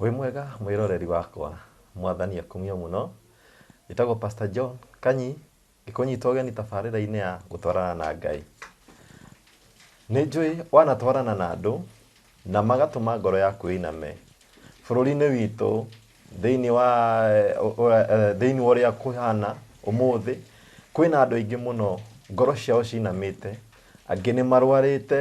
wĩ mwega mwĩroreri wakwa mwathani akumio mũno njĩtagwo pastor john kanyi ngĩkũnyita ũgeni tabarĩra-inĩ ya gũtwarana na ngai nĩ njũĩ wanatwarana na andũ na magatũma ngoro yaku ĩiname bũrũri-inĩ witũ Thĩinĩ wa thĩinĩ wa ũrĩa kũhana ũmũthĩ, kwĩna andũ aingĩ mũno ngoro ciao cinamĩte, angĩ nĩ marwarĩte,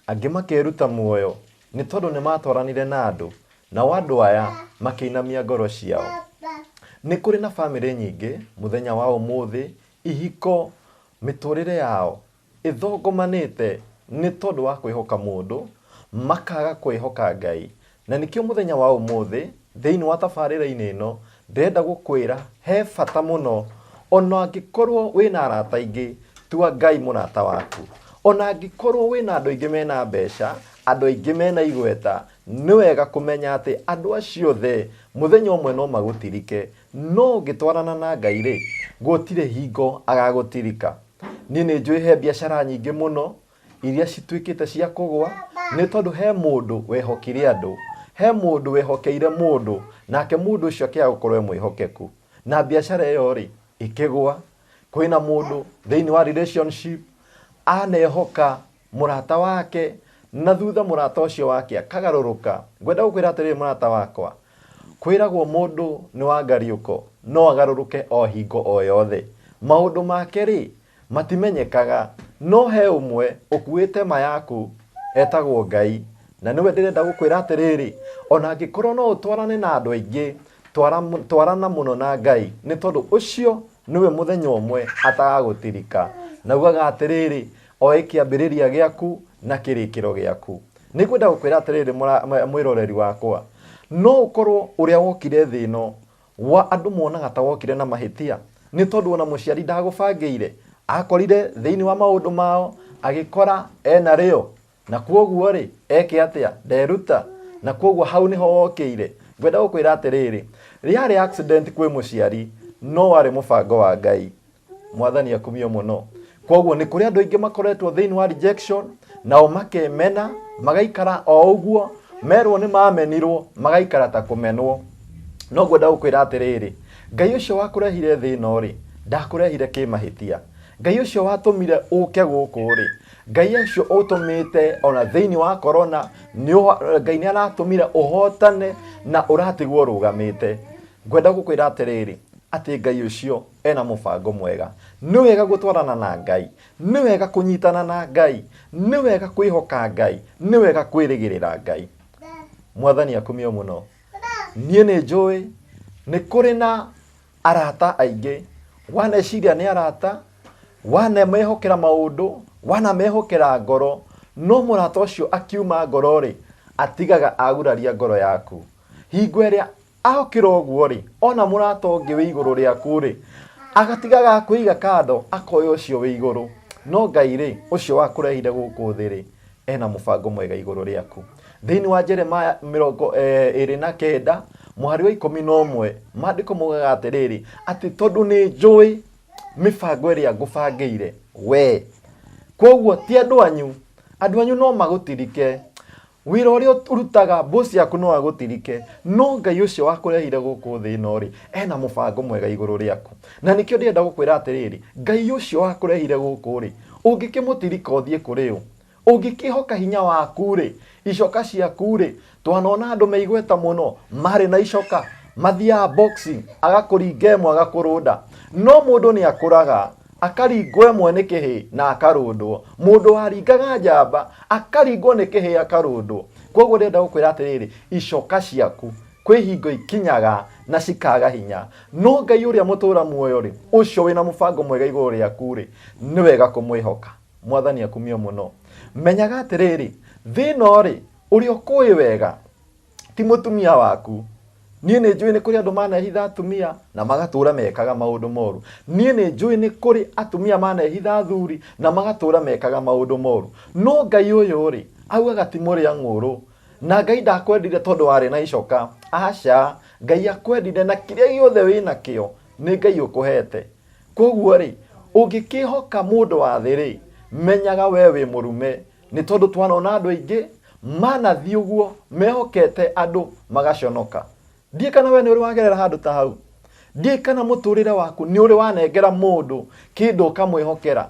angĩ makeruta muoyo nĩ tondũ nĩ matwaranire na andũ, nao andũ aya makĩinamia ngoro ciao. Nĩ kũrĩ na bamĩrĩ nyingĩ mũthenya wa ũmũthĩ, ihiko, mĩtũrĩre yao Ĩthũngũmanĩte nĩ tondũ wa kwĩhoka mũndũ, makaga kwĩhoka Ngai. Na nĩkĩo mũthenya wa ũmũthĩ, thĩinĩ wa tabarĩra-inĩ ĩno, ndĩrenda gũkwĩra he bata mũno, o na angĩkorwo wĩna arata aingĩ, tua Ngai mũrata waku. O na angĩkorwo wĩna andũ aingĩ mena mbeca, andũ aingĩ mena igweta, nĩ wega kũmenya atĩ andũ acio othe, mũthenya ũmwe no magũtirike. No ũngĩtwarana na Ngai-rĩ, gũtirĩ hingo agagũtirika. niĩ nĩ njũĩ he biacara nyingĩ mũno iria cituĩkĩte cia kũgwa nĩ tondũ he mũndũ wehokire andũ he mũndũ wehokeire mũndũ nake mũndũ ũcio akĩaga gũkorwo e mwĩhokeku na biacara ĩyo rĩ ĩkĩgwa kwĩna mũndũ thĩinĩ wa relationship anehoka Mũrata wake, na thutha mũrata ũcio wake akagarũrũka. Ngwenda gũkwĩra atĩrĩrĩ mũrata wakwa, kwĩragwo mũndũ nĩ wa ngariũko, no agarũrũke o hingo o yothe. Maũndũ make-rĩ, matimenyekaga, no he ũmwe ũkuĩte ma yaku, etagwo Ngai. Na nĩwe ndĩrenda gũkwĩra atĩrĩrĩ, ona angĩkorwo no ũtwarane na andũ aingĩ, twara, twarana mũno na Ngai, nĩ tondũ ũcio nĩwe mũthenya ũmwe atagagũtirika. Naugaga atĩrĩrĩ, Oĩ kĩambĩrĩria gĩaku na kĩrĩkĩro gĩaku. Nĩ ngwenda gũkwĩra atĩrĩrĩ mũra- mwe- mwĩroreri wakwa, no ũkorwo ũrĩa wokire thĩ ĩno wa andũ monaga ta wokire na mahĩtia, nĩ tondũ ona mũciari ndagũbangĩire, akorire thĩinĩ wa maũndũ mao agĩkora ena rĩo, na kwoguo rĩ eke atĩa? Nderuta, na kwoguo hau nĩho wokĩire. Ngwenda gũkwĩra atĩrĩrĩ, rĩarĩ accident kwĩ mũciari, no warĩ mũbango wa Ngai. mwathani akumio mũno kwoguo nĩ kũrĩ andũ aingĩ makoretwo thĩinĩ wa rejection nao makemena magaikara o ũguo merwo nĩ mamenirwo magaikara ta kũmenwo no ngwenda gũkwĩra atĩrĩrĩ ngai ũcio wakũrehire thĩ ĩno rĩ ndakũrehire kĩmahĩtia ngai ũcio watũmire ũke gũkũ rĩ ngai ũcio ũtũmĩte ona thĩinĩ wa korona nĩ ũho- ngai nĩ aratũmire ũhotane na ũratigwo ũrũgamĩte ngwenda gũkwĩra atĩrĩrĩ atĩ ngai ũcio ena mũbango mwega nĩ wega gũtwarana na ngai nĩ wega kũnyitana na ngai nĩ wega kwĩhoka ngai nĩ wega kwĩrĩgĩrĩra ngai mwathani akumio mũno niĩ nĩ njũĩ nĩ kũrĩ na arata aingĩ waneciria nĩ arata wanamehokera maũndũ wanamehokera ngoro no mũrata ũcio akiuma ngoro-rĩ atigaga aguraria ngoro yaku hingo ĩrĩa Agũkĩra ũguo-rĩ, ona mũrata ũngĩ wĩ igũrũ rĩaku-rĩ, agatigaga akũiga kando, akoya ũcio wĩ igũrũ. No Ngai-rĩ, ũcio wakũrehire gũkũ thĩ-rĩ, ena mũbango mwega igũrũ rĩaku. Thĩinĩ wa Jeremaya mĩrongo ĩrĩ na kenda, mũhari wa ikũmi na ũmwe, maandĩko maugaga atĩrĩrĩ, atĩ tondũ nĩ njũĩ mĩbango ĩrĩa ngũbangĩire wee, kwoguo ti andũ anyu, andũ anyu no magũtirike, Wĩra ũrĩa ũrutaga, boss yaku no agũtirike, no Ngai ũcio wakũrehire gũkũ thĩ ĩno-rĩ, ena mũbango mwega igũrũ rĩaku. Na nĩkĩo ndĩrenda gũkwĩra atĩrĩrĩ, Ngai ũcio wakũrehire gũkũ-rĩ, ũngĩkĩmũtirika ũthiĩ kũrĩ ũ? Ũngĩkĩhoka hinya waku-rĩ, icoka ciaku-rĩ, twanona andũ me igweta mũno, marĩ na icoka, mathiaga boxing, agakũringa ĩmwe agakũrũnda. No mũndũ nĩakũraga, Akaringwo ĩmwe nĩ kĩhĩ na akarũndwo. Mũndũ waringaga njamba akaringwo nĩ kĩhĩ akarũndwo. Kwoguo ndĩrenda gũkwĩra atĩrĩrĩ, icoka ciaku kwĩ hingo ikinyaga na cikaga hinya. No Ngai ũrĩa mũtũũra muoyo-rĩ, ũcio wĩ na mũbango mwega igũrũ rĩaku-rĩ, nĩ wega kũmwĩhoka. Mwathani akumio mũno. Menyaga atĩrĩrĩ, thĩ ĩno-rĩ, ũrĩa ũkũũĩ wega, ti mũtumia waku niĩ nĩ njũĩ nĩ kũrĩ andũ manehitha atumia na magatũra mekaga maũndũ moru niĩ nĩ njũĩ nĩ kũrĩ atumia manehitha athuri na magatũra mekaga maũndũ moru no ngai ũyũ rĩ augaga ti mũrĩa ng'ũrũ na ngai ndakwendire tondũ warĩ na icoka aca ngai akwendire na kĩrĩa gĩothe wĩ nakĩo nĩ ngai ũkũhete koguo rĩ ũngĩkĩhoka mũndũ wa thĩ rĩ menyaga we wĩ mũrume nĩ tondũ twanona andũ aingĩ manathiĩ ũguo mehokete andũ magaconoka ndiĩ kana we nĩ ũrĩ wagerera handũ ta hau ndiĩ kana mũtũrĩre waku nĩ ũrĩ wanengera mũndũ kĩndũ ũkamwĩhokera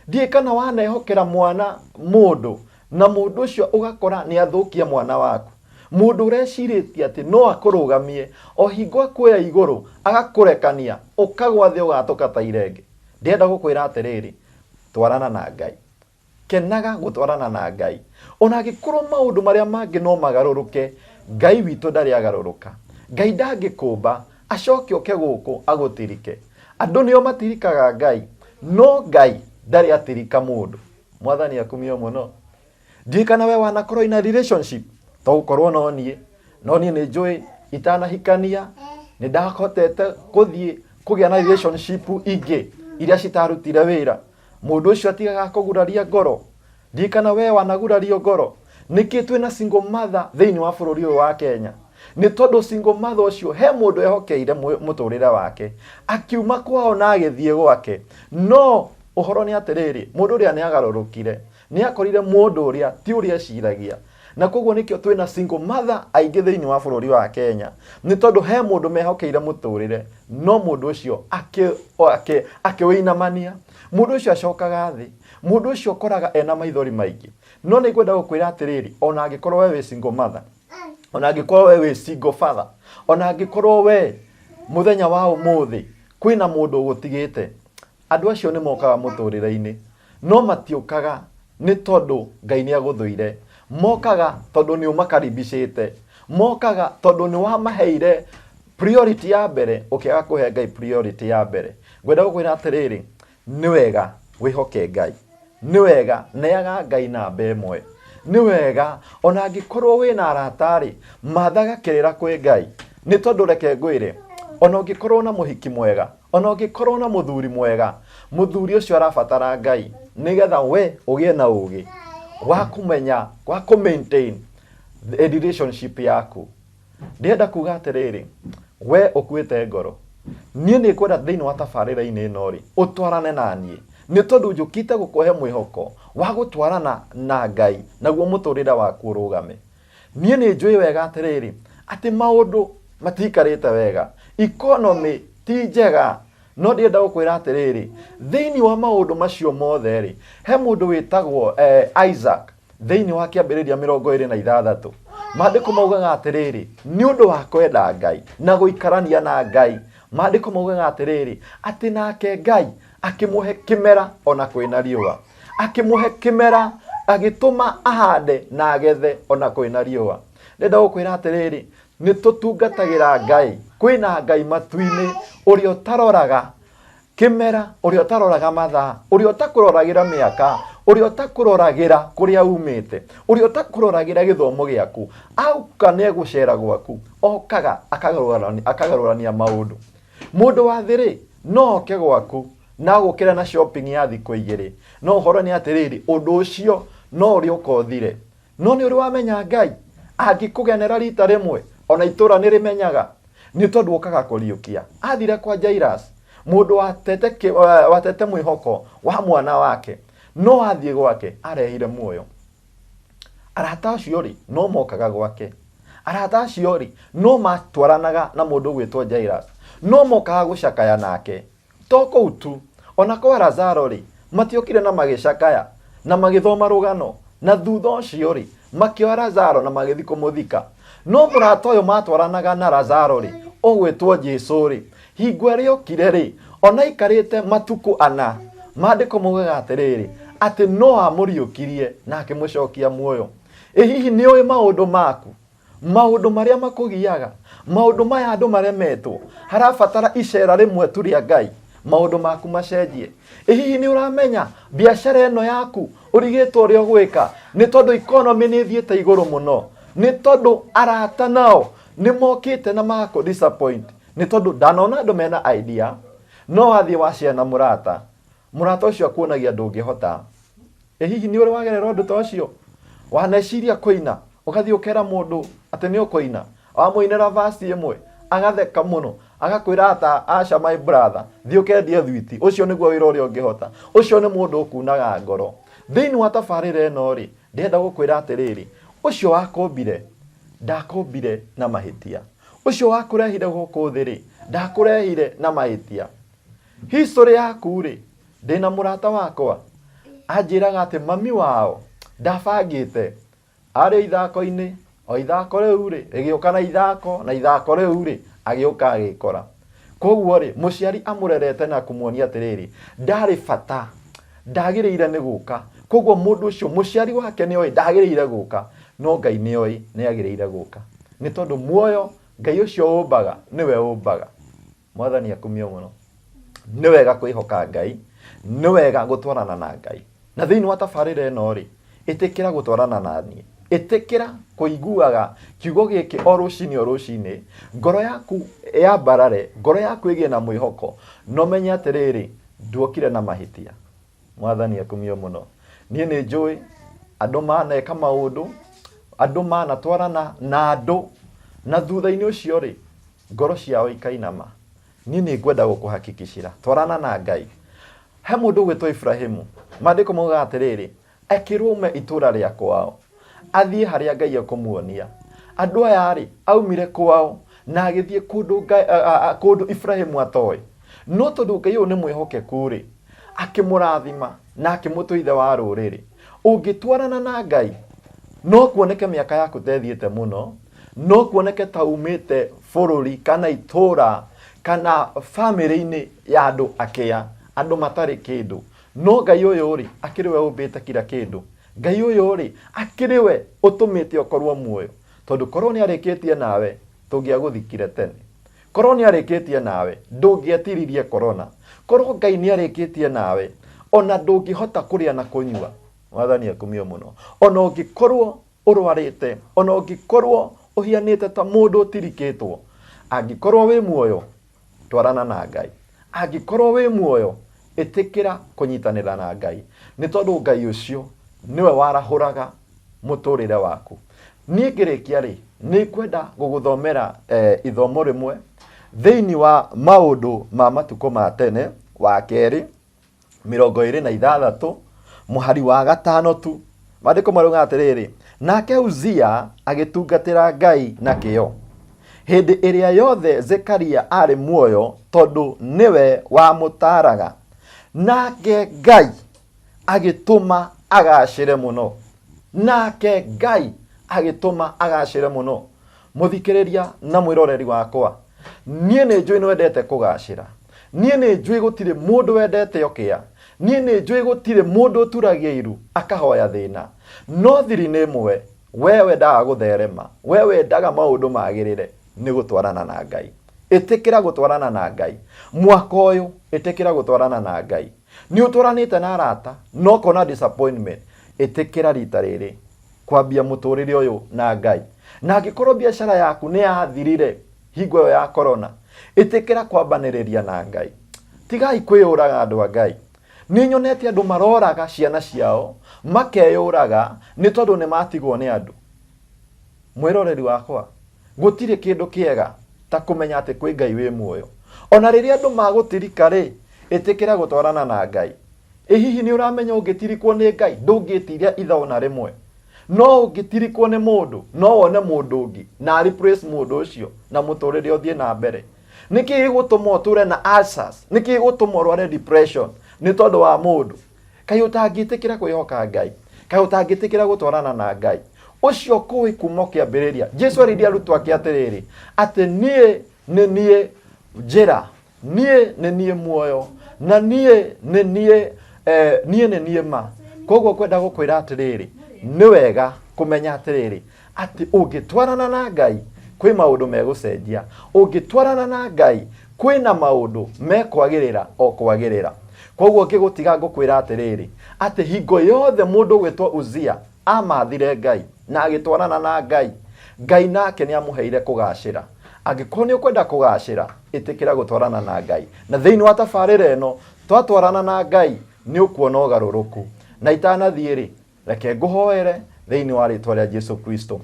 ndiĩ kana wanehokera mwana mũndũ na mũndũ ũcio ũgakora nĩ athũkia mwana waku mũndũ ũrecirĩtie atĩ no akũrũgamie o hingo akuoya igũrũ agakũrekania ũkagwa thĩ ũgatũka ta irenge ndĩrenda gũkwĩra atĩrĩrĩ twarana na ngai Kenaga gũtwarana na Ngai. O na angĩkorũo maũndũ marĩa mangĩ no magarũrũke, Ngai witũ ndarĩ agarũrũka. Ngai ndangĩkũũmba, acoke oke gũkũ agũtirike. Andũ nĩo matirikaga Ngai, no Ngai ndarĩ atirika mũndũ. Mwathani akumio mũno. Ndiũĩ kana we wanakorwo in a relationship, to gũkorwo no niĩ. No niĩ nĩ njũĩ itanahikania, nĩ ndahotete gũthiĩ kũgĩa na relationship ingĩ iria citarutire wĩra. Mũndũ ũcio atigaga kũguraria ngoro? Ndiĩ kana wee wanagurario ngoro. Nĩkĩ twĩ na single mother thĩinĩ wa bũrũri ũyũ wa Kenya? Nĩ tondũ single mother ũcio he mũndũ ehokeire mũ- mũtũrĩre wake. Akiuma kwao na agĩthiĩ gwake. No ũhoro nĩ atĩrĩrĩ, mũndũ ũrĩa nĩ agarũrũkire. Nĩ akorire mũndũ ũrĩa ti ũrĩa eciragia. Na koguo nĩkĩo twĩ na single mother aingĩ thĩinĩ wa bũrũri wa Kenya. Nĩ tondũ he mũndũ mehokeire mũtũrĩre, no mũndũ ũcio akĩwĩinamania. Mũndũ ũcio acokaga thĩ. Mũndũ ũcio ũkoraga ena maithori maingĩ. No nĩ ngwenda gũkwĩra atĩrĩrĩ, ona angĩkorwo we wĩ single mother, ona angĩkorwo we wĩ single father, ona angĩkorwo we mũthenya wa ũmũthĩ kwĩna mũndũ ũgũtigĩte, Andũ acio nĩ mokaga mũtũũrĩre-inĩ, no matiũkaga nĩ tondũ Ngai nĩ agũthũire. Mokaga tondũ nĩ ũmakaribicĩte. Mokaga tondũ nĩ wamaheire priority ya mbere ũkĩaga kũhe Ngai priority ya mbere. Ngwenda gũkwĩra atĩrĩrĩ, nĩ wega wĩhoke Ngai. Nĩ wega neaga Ngai namba ĩmwe. Nĩ wega ona angĩkorwo wĩna arata-rĩ, mathaga kĩrĩra kwĩ Ngai. Nĩ tondũ reke ngwĩre, ona ũngĩkorwo na mũhiki mwega, O na ũngĩkorũo na mũthuri mwega, mũthuri ũcio arabatara Ngai nĩgetha we ũgĩe na ũũgĩ wa kũmenya, wa kũ maintain the relationship yaku. Ndĩrenda kuga atĩrĩrĩ, we ũkuĩte ngoro, niĩ nĩ ngwenda thĩinĩ wa tabarĩra-inĩ ĩno rĩ, ũtwarane na niĩ. Nĩ tondũ njũkĩte gũkũhe mwĩhoko wa gũtwarana na Ngai naguo mũtũrĩre waku ũrũgame. niĩ nĩ njũĩ wega atĩrĩrĩ atĩ maũndũ matikarĩte wega economy ti njega no ndĩrenda gũkwĩra atĩrĩrĩ thĩinĩ wa maũndũ macio mothe rĩ he mũndũ wĩtagwo eh, isaac thĩinĩ wa kĩambĩrĩria mĩrongo ĩrĩ na ithathatũ maandĩko maugaga atĩrĩrĩ nĩ ũndũ wa kwenda ngai na gũikarania na ngai maandĩko maugaga atĩrĩrĩ atĩ nake ngai akĩmũhe kĩmera ona kwĩna riũa akĩmũhe kĩmera agĩtũma ahande na agethe ona kwĩna riũa ndenda gũkwĩra atĩrĩrĩ nĩ tũtungatagĩra ngai kwĩna ngai matu-inĩ ũrĩa ũtaroraga kĩmera ũrĩa ũtaroraga mathaa ũrĩa ũtakũroragĩra mĩaka ũrĩa ũtakũroragĩra kũrĩa umĩte ũrĩa ũtakũroragĩra gĩthomo gĩaku auka nĩ egũcera gwaku okaga akagarũrani- akagarũrania maũndũ Mũndũ wa thĩ-rĩ, no oke gwaku na agũkĩre na shopping ya thikũ igĩrĩ, no ũhoro nĩ atĩrĩrĩ, ũndũ ũcio no ũrĩũka ũthire. No nĩ ũrĩ wamenya Ngai? Angĩkũgenera rita rĩmwe, ona itũra nĩ rĩmenyaga, nĩ tondũ ũkaga kũriũkia. Athire kwa Jairus, mũndũ watete, watete mwĩhoko wa mwana wake, no athiĩ gwake arehire muoyo. Arata acio rĩ, no mokaga gwake. Arata acio rĩ, no matwaranaga na mũndũ ũgwĩtwo Jairus. No mokaga gũcakaya nake. To kũu tu, o na kwa Lazaro rĩ, matiokire na magĩcakaya, na magĩthoma rũgano, na thutha ũcio rĩ, makĩoya Lazaro na magĩthiĩ kũmũthika. No mũrata ũyũ matwaranaga na Lazaro rĩ, ũgwĩtwo Jesu rĩ, Hingo ĩrĩa okire-rĩ, ona aikarĩte matukũ ana, maandĩko moigaga atĩrĩrĩ, atĩ no amũriũkirie na akĩmũcokia muoyo. Ĩ hihi nĩ ũĩ maũndũ maku? Maũndũ marĩa makũgiaga? Maũndũ maya andũ maremetwo? Harabatara icera rĩmwe tu rĩa Ngai maũndũ maku macenjie? Ĩ hihi nĩ ũramenya biacara ĩno yaku ũrigĩtwo ũrĩa ũgwĩka? Nĩ tondũ economy nĩ ĩthiĩte igũrũ mũno. Nĩ tondũ arata nao nĩ mokĩte na magakũ disappoint. nĩ tondũ ndanona andũ mena idea no wathiĩ wacea na mũrata mũrata ũcio akuonagia ndũngĩhota ĩ hihi nĩ ũrĩ wagerera ũndũ ta ũcio waneciria kũina ũgathiĩ ũkera mũndũ atĩ nĩ ũkũina wamũinĩra vasi ĩmwe agatheka mũno agakwĩra ata aca my brother thiĩ ũkendie thwiti ũcio nĩguo wĩra ũrĩa ũngĩhota ũcio nĩ mũndũ ũkunaga ngoro thĩinĩ wa tabarĩra ĩno rĩ ndĩrenda gũkwĩra atĩrĩrĩ ũcio wakũmbire ndakombire na mahĩtia Ũcio wakũrehire gũkũ thĩ-rĩ, ndakũrehire na mahĩtia. History yaku-rĩ, ndĩna mũrata wakwa anjĩraga atĩ mami wao ndabangĩte arĩ o ithako-inĩ, o ithako rĩu-rĩ rĩgĩũka na ithako, na ithako rĩu-rĩ agĩũka agĩkora. koguo rĩ mũciari amũrerete na kũmuonia atĩrĩrĩ ndarĩ bata ndagĩrĩire nĩ gũka koguo mũndũ ũcio mũciari wake nĩ oĩ ndagĩrĩire gũka no ngai nĩ oĩ nĩ agĩrĩire gũka nĩ tondũ muoyo ngai ũcio ũmbaga nĩwe ũmbaga mwathani akumio mũno nĩ wega kwĩhoka ngai nĩ wega gũtwarana na ngai Na thĩinĩ wa tabarĩra ĩno rĩ, ĩtĩkĩra gũtwarana na niĩ. Ĩtĩkĩra kũiguaga kiugo gĩkĩ o rũcinĩ o rũcinĩ, ngoro yaku yambarare, ngoro yaku ĩgĩe na mwĩhoko, na ũmenye atĩrĩrĩ, nduokire na mahĩtia. Mwathani akumio mũno. Niĩ nĩ njũĩ andũ maneka maũndũ, andũ manatwarana na andũ, na thutha-inĩ ũcio rĩ, ngoro ciao ikainama. niĩ nĩ ngwenda gũkũhakikicira twarana na ngai he mũndũ ũgwĩtwo iburahimu maandĩko maugaga atĩrĩrĩ ekĩrwo ume itũũra rĩa kwao athiĩ harĩa ngai ekũmuonia andũ aya rĩ aumire kwao na agĩthiĩ kũndũ Ngai- a- a- a- kũndũ iburahimu atoĩ no tondũ ngai ũyũ nĩ mwĩhokeku rĩ akĩmũrathima na akĩmũtua ithe wa rũrĩrĩ ũngĩtwarana na ngai no kuoneke mĩaka yaku tethiĩte mũno no kuoneke ta umĩte bũrũri kana itũũra kana famĩlĩ-inĩ ya andũ akĩa andũ matarĩ kĩndũ no ngai ũyũ rĩ akĩrĩ we ũmbĩte kira kĩndũ ngai ũyũ rĩ akĩrĩ we ũtũmĩte ũkorwo muoyo tondũ korwo nĩ arĩkĩtie nawe tũngĩagũthikire tene korwo nĩ arĩkĩtie nawe ndũngĩetiririe korona korwo ngai nĩ arĩkĩtie nawe ona ndũngĩhota kũrĩa na kũnyua mwathani akumio mũno ona ũngĩkorwo ũrwarĩte, o na ũngĩkorwo ũhianĩte ta mũndũ ũtirikĩtwo, angĩkorwo wĩ muoyo, twarana na Ngai. Angĩkorwo wĩ muoyo, ĩtĩkĩra kũnyitanĩra na Ngai, nĩ tondũ Ngai ũcio nĩwe warahũraga mũtũrĩre waku. Niĩ ngĩrĩkia rĩ, nĩ kwenda gũgũthomera eh, ithomo rĩmwe thĩinĩ wa maũndũ ma matukũ ma tene, wa kerĩ, mĩrongo ĩrĩ na ithathatũ mũhari wa gatano tu maandĩko marauga atĩrĩrĩ nake uzia agĩtungatĩra ngai na kĩo hĩndĩ ĩrĩa yothe zekaria arĩ muoyo tondũ nĩwe wamũtaaraga nake ngai agĩtũma agacĩre mũno nake ngai agĩtũma agacĩre mũno mũthikĩrĩria na mwĩroreri wakwa niĩ nĩ njũĩ nĩ wendete kũgacĩra niĩ nĩ njũĩ gũtirĩ mũndũ wendete okĩa niĩ nĩ njũĩ gũtirĩ mũndũ ũturagia iru akahoya thĩna no thiri nĩ ĩmwe we wendaga gũtherema we wendaga maũndũ magĩrĩre nĩ gũtwarana na ngai ĩtĩkĩra gũtwarana na ngai mwaka ũyũ ĩtĩkĩra gũtwarana na ngai nĩ ũtwaranĩte na arata no kona disappointment ĩtĩkĩra rita rĩrĩ kwambia mũtũrĩre ũyũ na ngai na angĩkorwo biacara yaku nĩ yathirire hingo ĩyo ya korona ĩtĩkĩra kwambanĩrĩria na ngai tigai kwĩyũraga andũ a ngai nĩ nyonete andũ maroraga ciana ciao makeyũraga nĩ tondũ nĩ matigwo nĩ andũ mwĩroreri wakwa Gũtirĩ kĩndũ kĩega ta kũmenya atĩ kwĩ Ngai wĩ muoyo. O na rĩrĩa andũ magũtirika-rĩ, ĩtĩkĩra gũtwarana na Ngai. Ĩ hihi nĩ ũramenya ũngĩtirikwo nĩ Ngai? Ndũngĩĩtiria itha o na rĩmwe. No ũngĩtirikwo nĩ mũndũ, no wone mũndũ ũngĩ na a replace mũndũ ũcio na mũtũrĩre ũthiĩ na mbere. Nĩkĩĩ gĩgũtũma ũtũre na ulcers? Nĩkĩĩ gĩgũtũma ũrware depression nĩ tondũ wa mũndũ? Kaĩ ũtangĩtĩkĩra kwĩhoka Ngai? Kaĩ ũtangĩtĩkĩra gũtwarana na Ngai? Ũcio ũkũĩ kuma o kĩambĩrĩria. Jesu arĩirie arutwo ake atĩrĩrĩ, atĩ niĩ nĩ niĩ njĩra, niĩ nĩ niĩ muoyo, na niĩ nĩ niĩ eh, niĩ nĩ niĩ ma. Koguo kwenda gũkwĩra atĩrĩrĩ, nĩ wega kũmenya atĩrĩrĩ, atĩ ũngĩtwarana na ngai kwĩ maũndũ megũcenjia ũngĩtwarana na ngai kwĩna maũndũ mekwagĩrĩra o kwagĩrĩra koguo ngĩgũtiga ngũkwĩra atĩrĩrĩ atĩ hingo yothe mũndũ ũgwĩtwo uzia amathire ngai na agĩtwarana na ngai ngai nake nĩ amũheire kũgacĩra angĩkorwo nĩ ũkwenda kũgacĩra ĩtĩkĩra gũtwarana na ngai na thĩinĩ wa tabarĩra ĩno twatwarana na ngai nĩ ũkuona ũgarũrũku na itanathiĩ rĩ reke ngũhoere thĩinĩ wa rĩtwa rĩa jesu kristo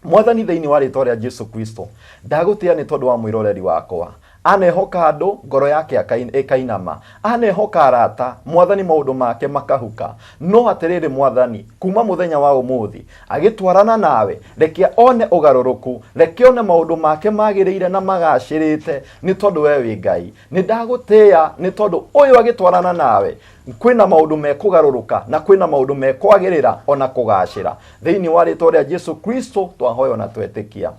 mwathani thĩinĩ wa rĩtwa rĩa jesu kristo ndagũtĩa nĩ tondũ wa mwĩroreri wakwa anehoka andũ ngoro yake akain- ĩkainama anehoka arata mwathani maũndũ make makahuka no atĩrĩrĩ mwathani kuma mũthenya wa ũmũthĩ agĩtwarana nawe reke one ũgarũrũku reke one maũndũ make magĩrĩire na magacĩrĩte nĩ tondũ we wĩ ngai nĩ ndagũtĩĩa nĩ tondũ ũyũ agĩtwarana nawe kwĩna maũndũ mekũgarũrũka na kwĩna maũndũ mekwagĩrĩra ona kũgacĩra thĩinĩ wa rĩtwa rĩa jesu kristo twahoyo na twetĩkia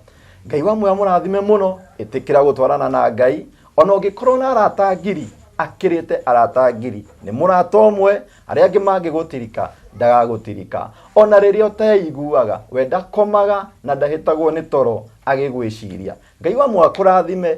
ngai wa muoya mũrathime mũno ĩtĩkĩra gũtwarana na ngai ona ũngĩkorwo na arata ngiri akĩrĩte arata ngiri nĩ mũrata ũmwe arĩa angĩ mangĩgũtirika ndagagũtirika ona rĩrĩa ũteiguaga we ndakomaga na ndahĩtagwo nĩ toro agĩgwĩciria ngai wa muoya kũrathime